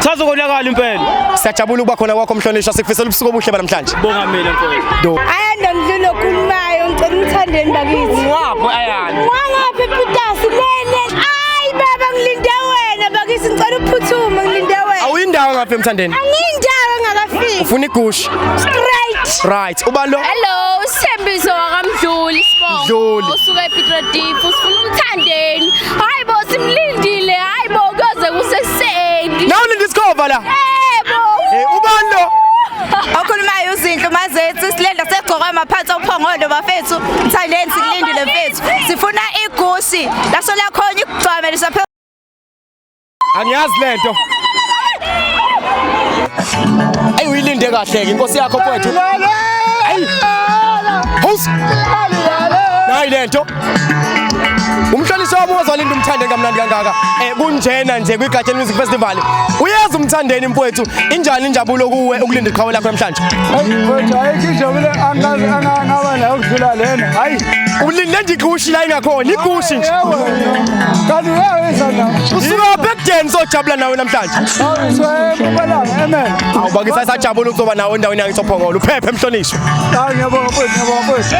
Sazo konakala impela. Siyajabula ukuba khona kwakho mhlonishwa sikufisela ubusuku obuhle banamhlanje. Bonga mina mfowethu. Ayanda mdlulu okhulumayo ngicela umthandeni bakithi. Wapho ayanda. Wangaphi Peters lele. Ay baba ngilinde wena bakithi ngicela uphuthume ngilinde wena. Awuyindawo ngaphi emthandeni? Angiyindawo ngakafiki. Ufuna igusha. Straight. Right. Uba lo. Hello, Sithembiso wakamdluli sibongo. Mdluli. Usuka ePetrodeep usifuna umthandeni. Hayibo simlindile. Hayibo kuyoze kuse Seki. Nawe ulinda isikhova la. Yebo. Eh ubani lo? Okhulumayo uzinhle umazethu silenda segqoka amaphansi ophongolo bafethu. Mthandensi kulindile mfethu. Sifuna igusi. Laso lakhona ikugcwame lisaphe. Angiyazi lento. Ayi uyilinde kahle ke inkosi yakho kwethu. Ayi. House. Nayi lento. umhlonishwa wami ozolinda umthande kamnandi kangaka um kunjena nje kwigatsheni music festival uyeza umthandeni mfowethu injani injabulo kuwe ukulinda iqhawe lakho namhlanje mfowethu ayikho injabulo angazi angangaba nayo ukudlula lena hayi ulinde nje igushi la ingakhona igushi nje kanti uyaweza na usukaphi ekudeni sojabula nawe namhlanje awubakisa isajabula ukuzoba nawe endaweni yangisophongolo uphephe mhlonishwa ngiyabonga mfowethu ngiyabonga mfowethu